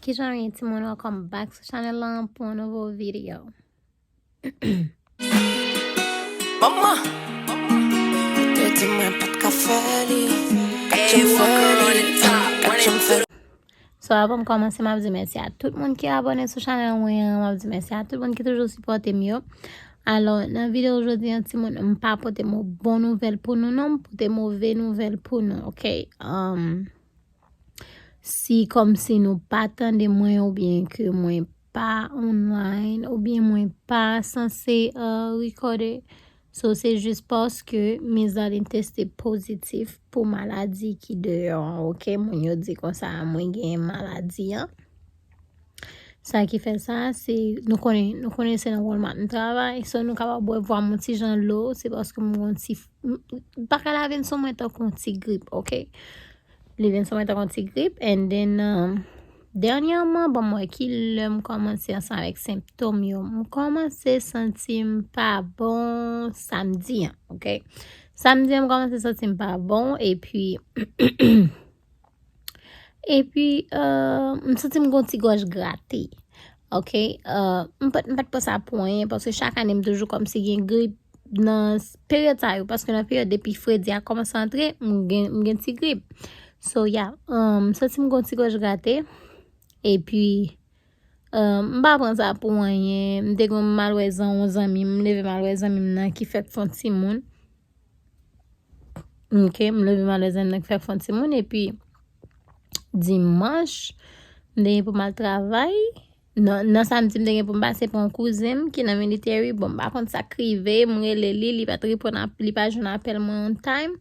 Kijan ye timoun welcome back sou chanel lan pou yon nouvo video. Mama Te di mwen pat ka fè li Katye m fè li Katye m fè So avan m kòmanse m ap di mèsi a tout moun ki abone sou chanel mwen an, m ap di mèsi a tout moun ki toujou sipòte m yo. Alò nan video jodi an ti moun m pa pote mo bon nouvèl pou nou non, m pote move nouvèl pou nou, ok? Um, Si kòmsi nou pa tande mwen oubyen ke mwen pa online oubyen mwen pa sanse rekòde so se jis paske mizan li teste pozitif pou maladi ki deyò an ok moun yo di konsa mwen gen maladi an. Sa ki fè sa, se nou konnen, nou konnen se nan Walmart m travay, so nou kapab wè vwa m yon ti jan lo, se paske m gen yon ti, bagay la vin sou mwen tankou yon ti grip, ok. Li vin sou mwen tankou yon ti grip and then, dènyèman ban m wè ki lè m kòmanse ansanm avèk senptom yo. M kòmanse santi m pa bon samdi an, ok. Samdi an m kòmanse santi m pa bon epi. Epi, m santi m gen yon ti gòj grate. Ok, m pa m pa t pran sa pou anyen paske chak ane m toujou kòmsi gen grip nan peryòd sa yo paske nan peryòd depi fredi a kòmanse antre m gen m gen ti grip. So, ya, m santi m gen yon ti gòj grate. Epi, m pa pran sa pou anyen. M te gen yon malwè zan yon zanmi m, m leve malwè zanmi m nan ki fèk fon timoun. Ok, m leve malè zèn nan k fè fon ti moun epi dimanch m te gen pou m al travay. Non, nan samdi m te gen pou m pase pou yon kouzen m ki nan military. Bon, m pa konn sa k rive, m rele li, li pa t reponn, li pa jwenn apèl mwen on time.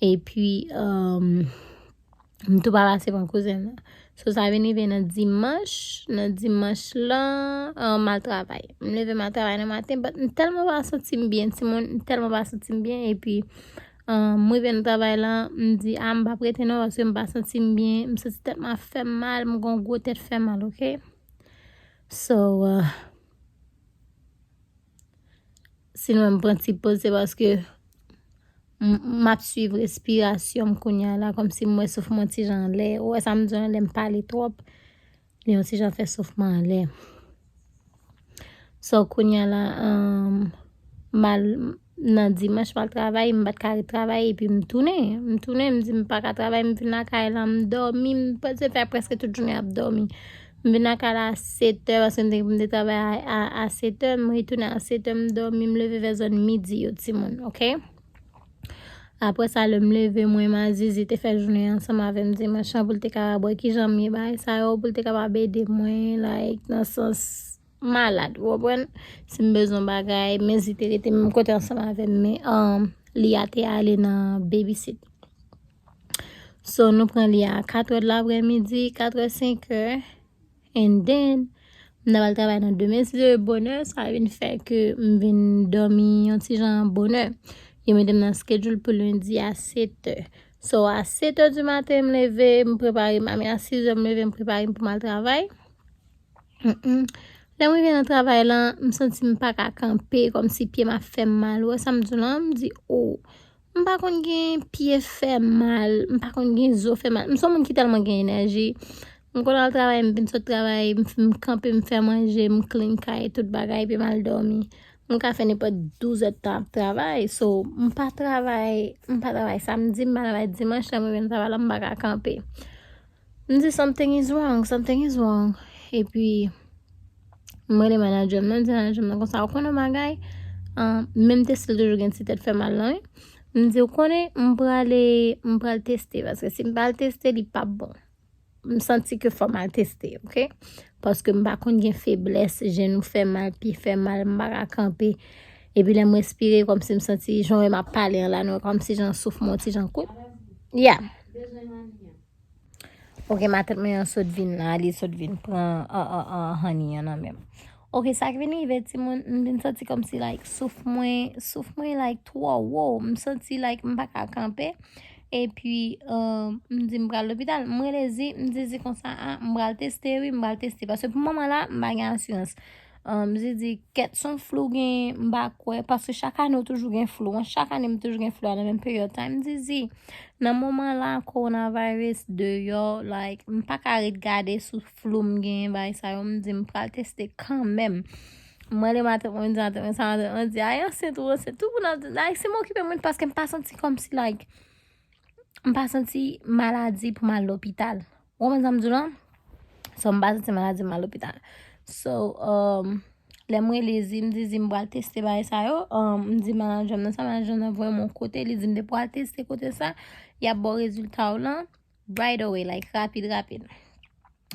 Epi, euh, M tou pa pase pran kouzen m nan. So sa vin rive nan dimanch, nan dimanch lan, m al travay. M leve m al travay nan maten but m tèlman pa santi m byen timoun, m tèlman pa santi m byen epi m rive nan travay lan, m di a m pa prete non paske m pa santi m byen, m santi tèt mwen ap fè m mal, m gon gwo tèt fè mal ok. So. Si nou wè m pran ti poz se paske m ap swiv respirasyon m kounye a la kòm si m wè souf mwen ti jan anlè. Ou wè sa m di w la lè m pale twòp, li yon ti jan fè souf mwen anlè. So kounye a la, m al nan dimanch m al travay, m pa t ka ret travay epi m tounen. M tounen m di m pa ka travay m vin lakay la m dòmi m pase fè prèske tout jounen ap dòmi. M vin lakay la a setè paske m te gen pou m te travay a setè. M retounen a setè m dòmi m leve vè zòn midi yo timoun ok. Aprè sa lè m leve mwen m a Zizi te fè jounen an ansanm avè m dimanch lan pou l te kapab wè kijan m ye bagay sa yo pou l te kapab ede mwen like nan sans malad ou konprann. Si m bezwen bagay men Zizi te rete menm kote ansanm avè m men li a te ale nan babysit. So nou pran li a 4 heures de l'après-midi, 4 heures, 5 heures. And then, m ta pral travay nan demen si Dieu veut bonè. Sa vin fè ke m vin dòmi yon ti jan bonè. Yo mete m nan schedule pou lundi a 7 heures. So a 7 heures du matin m leve, m prepare m. I mean a 6 heures m leve m prepare m pou m al travay. Lè m rive nan travay lan, m santi m pa ka kanpe kòmsi pye m ap fè m mal. Ou wè sa m di w lan? M di ou. M pa konn gen pye fè mal, m pa konn gen zo fè mal. M son moun ki tèlman gen enèji. M konn al travay, m vin sot travay, m kanpe, m fè manje, m klin kay, tout bagay epi m al dòmi. M ka fè nenpòt douzèd tan ap travay. So, m pa travay, m pa travay samdi, m pa travay dimanch, lè m rive nan travay la m pa ka kanpe. M di something is wrong, something is wrong epi m rele manager m nan, m di manager m nan konsa ou konnen yon bagay menm teste l toujou gen ti tèt fè mal lan wi m di ou konnen m prale m pral teste paske si m pa al teste li pap bon m santi ke fò m al teste ok paske m pa konn gen feblès jenou fè m mal, pye fè m mal m pa ka kanpe epi lè m respire kòm si m santi jan wè m ap pale an la nou wè kòm si jan souf mwen yon ti jan kout ya. Ok matant mwen an sot vin la li sot vin pran honey an nan menm. Ok sa k vin rive timoun m vin santi kòmsi like souf mwen souf mwen like twò wo m santi like m pa ka kanpe epi m di m pral lopital m rele Zi m di Zi konsa a m pral teste wi m pral teste paske pou moman la m pa gen asirans. Humm zidi kèt son flou gen m pa kwè paske chak ane ou toujou gen flou an chak ane m toujou gen flou a nan menm peryòd time zidi nan moman la corona virus deyò like m pa ka ret gade sou flou m gen bay sa yo m di m pral teste kanmèm m rele maten mwen di maten mwen sa maten mwen di ay ansent ou ansent tout moun ap di like se m okipe mwen paske m pa santi kòmsi like m pa santi maladi pou m al lopital. Ou konprann sa m di w lan? So m pa santi maladi m al lopital. So, lè m rele Zi, m di Zi m pral teste bagay sa yo, m di manager m nan sa, manager m nan voye m yon kote, li di m depi w al teste kote sa, y ap ba w rezilta w lan right away, like rapid rapid.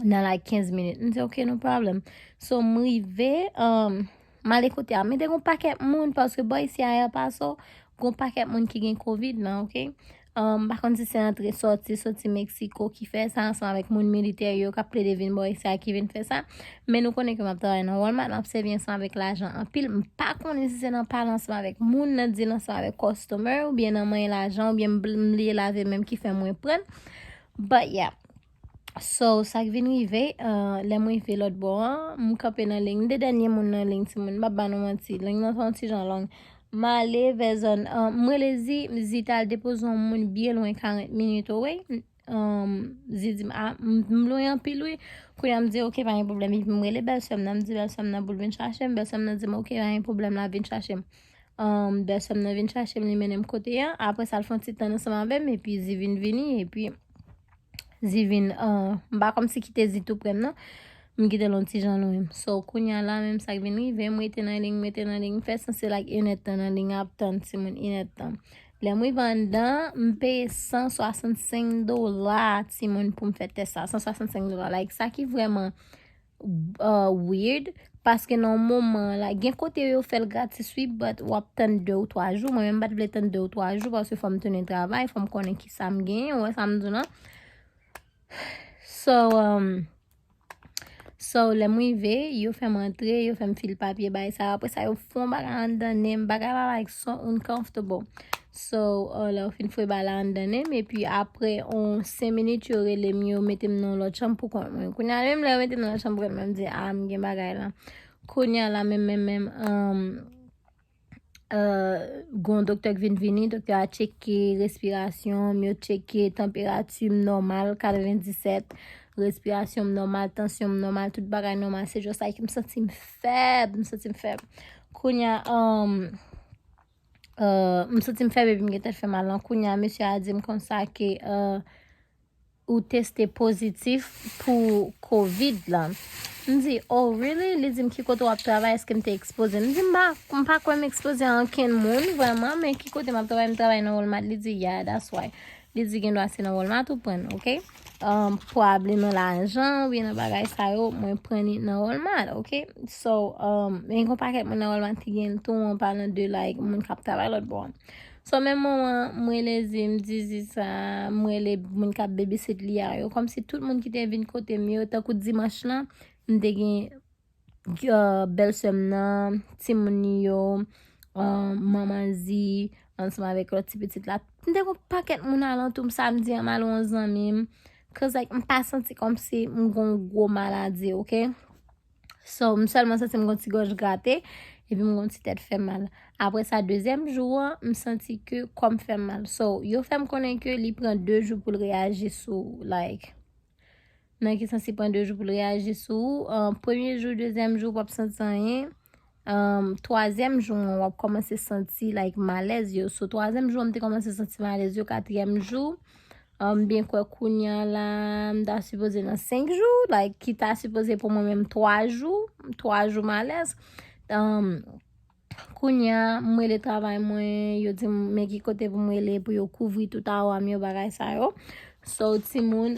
Nan like 15 minit. M di ok, no problem. So m rive, m ale kote a. Men te gen yon pakèt moun paske bò isi a El Paso, gen yon pakèt moun ki gen covid lan, ok. M pa konn si se antre sòti, sòti Mexico ki fè sa ansanm avèk moun militè yo k ap plede vin bò isi a ki vin fè sa. Men nou konnen ke m ap travay nan Walmart, m ap sèvi ansanm avèk lajan anpil. M pa konnen si se nan pale ansanm avèk moun, nan dil ansanm avèk customer oubyen nan manyen lajan oubyen m bliye lave menm ki fè mwen pran l. But yeah. So sak vin rive lè m rive lòt bò an m kanpe nan liy m te dènye moun nan liy ti moun m pap ba nou manti liy nan son ti jan long m ale vè zòn m rele zi m di zi ta al depoze yon moun byen lwen 40 minit owey zi di m a m lwen anpil wi kounya m di ok pa gen pwoblèm epi m rele bèlsè m nan m di bèlsè m nan pou l vin chache m bèlsè m nan di m ok pa gen pwoblèm la vin chache m bèlsè m nan vin chache m li mennen m kote an apre sa l fè yon ti tann ansanm avè m epi zi vin vini epi Divin, ahh, m pa kòmsi kite Di tou prè m non. M kite l on ti jan lwen m. So, kounya la menm sa k vin rive m, m rete nan liy m, m rete nan liy m, m fè sanse l ak inèdtan nan liy ap tann timoun inèdtan. Lè m rive anndan, m peye 165 dola timoun pou m fè tès sa. 165 dola, like, sa ki vrèman. weird paske nan moman la gen kote yo fèl gratis wi but wap tann 2 ou 3 jou mwen menm pat vle tann 2 ou 3 jou paske fòm tounen travay fòm konnen ki sam gen wè sam di w nan so um, so lèm rive yo fèm antre yo fèm fil papye bay sa apresa yo fon bagay anndan nenm bagay la like so uncomfortable So lè ou fin fwe bala anndan nenm epi apre on 5 minit yo rele m yo mete m nan yon lòt chanm pou kont mwen. Kounya menm lè yo mete m nan lòt chanm pou kont mwen m di a m gen bagay la. Kounya la menm menm menm um uh gon doktè k vin vini, doktè a tcheke respirasyon m, yo tcheke tanperati m nòmal 97, respirasyon m nòmal, tansyon m nòmal, tout bagay nòmal se just like m santi m fèb, m santi m fèb. Kounya um. m santi m fèb epi m gen tèt fè mal lan kounya mesye a di m konsa ke ou teste pozitif pou covid lan. M di, oh really? Li di m ki kote wap travay, eske m te ekspoze? M di m pa, m pa kwè m ekspoze a ankenn moun vrèman, men ki kote map travay, m travay nan walmart, li di yeah that's why. Li di gen dwa se nan walmart ou pran, ok. um, pwabli nan lajan, ou byen nan bagay sa yo, mwen pran ni nan Walmart, ok? So, um, men yon paket mwen nan Walmart ki gen tou, mwen pa nan de like, mwen kap tabay lot bon. So, men mwen wan, mwen le zi, mwen di zi sa, mwen le, mwen kap bebe sit li a yo, kom si tout mwen ki te vin kote mwen yo, ta kou dimanche lan, mwen te gen. bèl sè m nan, timoun li yo, manman Zi, ansanm avèk lòt ti pitit la. M te gen yon pakèt moun alantou m samdi an m al wè yon zanmi m. Koz like m pa santi kòmsi m gen yon gwo maladi ok. So m sèlman santi m gen yon ti gòj grate epi m gen yon ti tèt fè mal. Aprè sa dezyèm jou an m santi ke kò m fè m mal. So yo fè m konnen ke li pran 2 jou pou l reyaji sou like Nan ki sans li pran 2 jou pou l reyaji sou ou? Premye jou, dezyèm jou, wap santi anyen. Twazyèm jou an, wap kòmanse santi like malèz yo. So, twazyèm jou an, m te kòmanse santi malèz yo. Katriyèm jou, m byen kwè kounya la, m ta sipoze nan 5 jou. Like, ki ta sipoze pou mwen menm 3 jou. 3 jou malèz. Kounya m rele travay mwen yo dim men ki kote pou m rele pou yo kouvri tout a wam yo bagay sa yo so timoun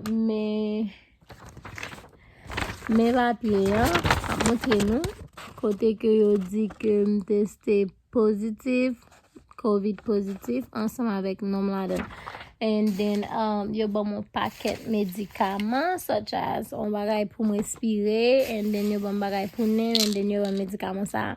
men men papye an map montre nou kote ke yo di ke m teste pozitif. Covid positif ansanm avèk nom ladan and then um, yo ban mwen paket medikaman such as on bagay pou m respire and then yo ban m bagay pou nen and then yo ban m medikaman sa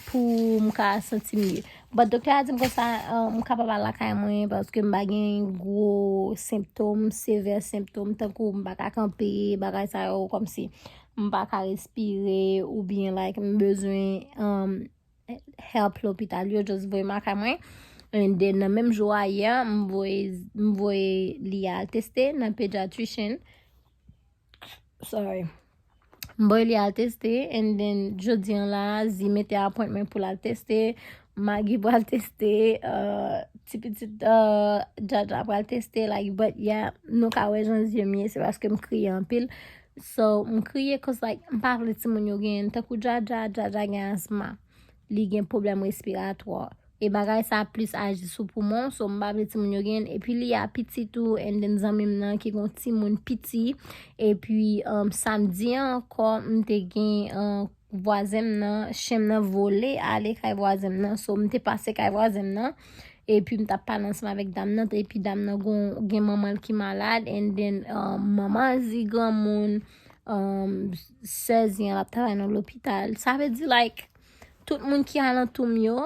pou m ka santi mye. But doktè a di m konsa um, m kapab al lakay mwen paske m pa gen gwo semptom, sevè semptom tankou m pa ka kanpe, bagay sa yo komsi m pa ka respire ou byen like m bezwen um, help lopital yo just voye m lakay mwen and then nan menm jou a yè m voye m voye li al teste nan pediatrician sorry m voye li al teste and then jodi an la zi mete appointment pou l al teste magi pral teste euh, ti pitit jaja euh, pral teste like but yeah nou ka wè jan zye m ye se paske m kriye anpil So m kriye cause like m pa vle timoun yo genyen tankou Jaja, Jaja gen asma, li gen pwoblèm respiratwa e bagay sa plis aji sou poumon so m pa vle timoun yo genyen epi li a piti tou and then zanmi m nan ki gon timoun piti epi um, samdi an ankò m te gen an um, vwazen m nan chen m nan vole ale kay vwazen m nan so m te pase kay vwazen m nan epi m tap pale ansanm avèk dam nan epi dam nan gon gen manman l ki malad and then um, manman l di granmoun um, sè zi an ap travay nan lopital sa vle di like tout moun ki alantou m yo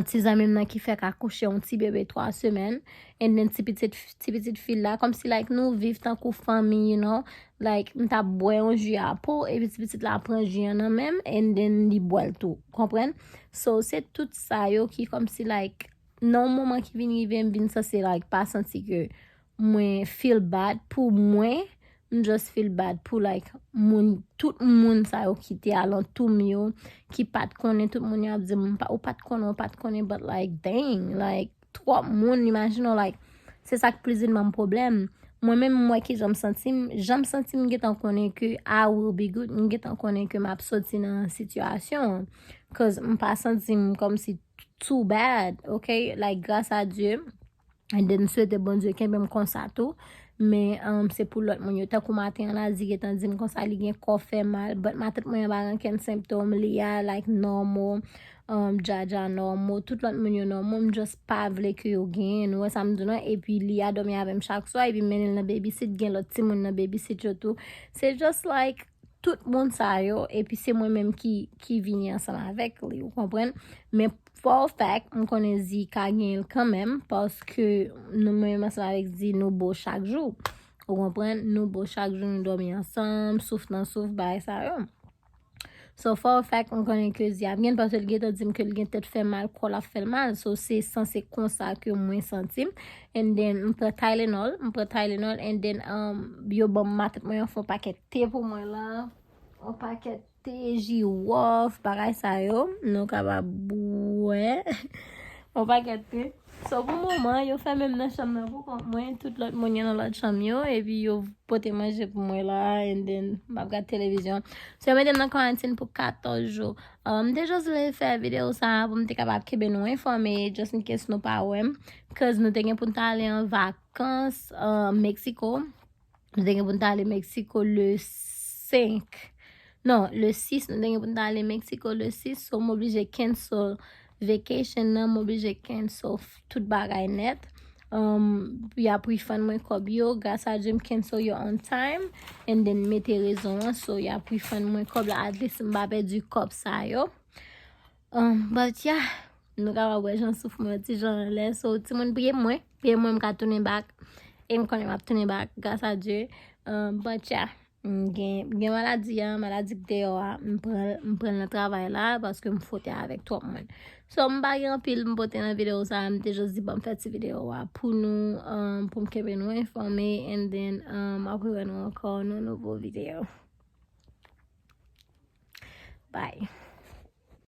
ti zanmi m nan ki fèk akouche yon ti bebe 3 semèn and then ti pitit ti pitit fi l la kòmsi like nou viv tankou fanmi you know like m t ap bwè yon ji a po epi ti pitit la pran ji an nan men m and then li bwè l tou konprann so se tout sa yo ki kòmsi like nan yon moman ki vin rive m vin sanse like pa santi ke Mwen feel bad pou mwen. M just feel bad pou like moun tout moun sa yo ki te alantou m yo ki pat konnen tout moun yo ap di m ou pat konnen ou pat konnen but like dang like twòp moun imajine w like se sa k prizin ban m pwoblèm mwen menm m wè ki jan m santi m jan m santi m gentan konnen ke I will be good m gentan konnen ke m ap soti nan sitiyasyon an cause m pa santi m kòmsi too bad ok like gras a Dye. And then m swete Bondye kenbe m konsa tou. Men an se pou lòt moun yo. Tankou maten an la di gentan di m konsa li gen kò fè mal. But matant mwen an pa gen okenn senptom li a like normal. Jaja normal. Tout lòt moun yo normal. M just pa vle ke yo genyen. Nou wè sa m di w lan. E pi li a dòmi avè m chak swa. E pi m mennen l nan babysit. Gen lòt timoun nan babysit yo tou. Se just like tout moun sa yo. E pi se mwen menm ki vini ansanm avèk li. Ou konprann? Men. For a fact m konnen Zee ka genyen l kanmenm paske nou menm ansanm avèk Zee nou bo chak jou. Ou konprann? Nou bo chak jou, nou dòmi ansanm, souf nan souf, bagay sa yo. So for a fact m konnen ke Zee ap genyen l paske l gentan di m ke l gen tèt fè mal, kò l ap fè l mal. So se sanse konsa ke mwen santi m. And then m pran Tylenol, m pran Tylenol and then yo ban m matèt mwen yon fon pakèt te pou mwen la. Yon pakèt. Tee jiwòf, bagay sa yo, nou kapab bwè yon pakèt te. So pou moman, yo fèmen m nan chanm nan pou kont mwen, tout lòt moun yo nan lòt chanm yo, epi yo pote manje pou mwen la, and then m ap gad televizyon. So yo mete m nan kwarantin pou 14 jou. M te just vle fè videyo sa pou m te kapab kenbe nou enfòme, just in case nou pa wè m, cause nou te gen pou n t ale an vakans Mexico. Nou te gen pou n ta ale Meksiko le 5. Non, le 6. Nou te gen pou n ta ale Meksiko le 6. So, m oblije cancel vacation nan. M oblije cancel tout bagay net. Um, y ap refund mwen kòb yo. Gras a Dye, m cancel yo on time. And then, m mete rezon an. So, y ap refund mwen kòb la. At least, m pa pèdi kòb sa yo. But yeah, nou kapab wè jan souf mwen ti jan anlè so timoun priye pou mwen, priye pou mwen m ka tounen back e m konnen m ap tounen back gras a Dye but yeah m gen maladi an, maladi k deyò a m pran l, m pran l nan travay la paske m fwote avèk twòp moun so m pa gen anpil m pote nan videyo sa m te jis di banm fè ti videyo a pou nou pou m kenbe nou enfòme and then m ap riwè nou ankò nan yon nouvo videyo bye.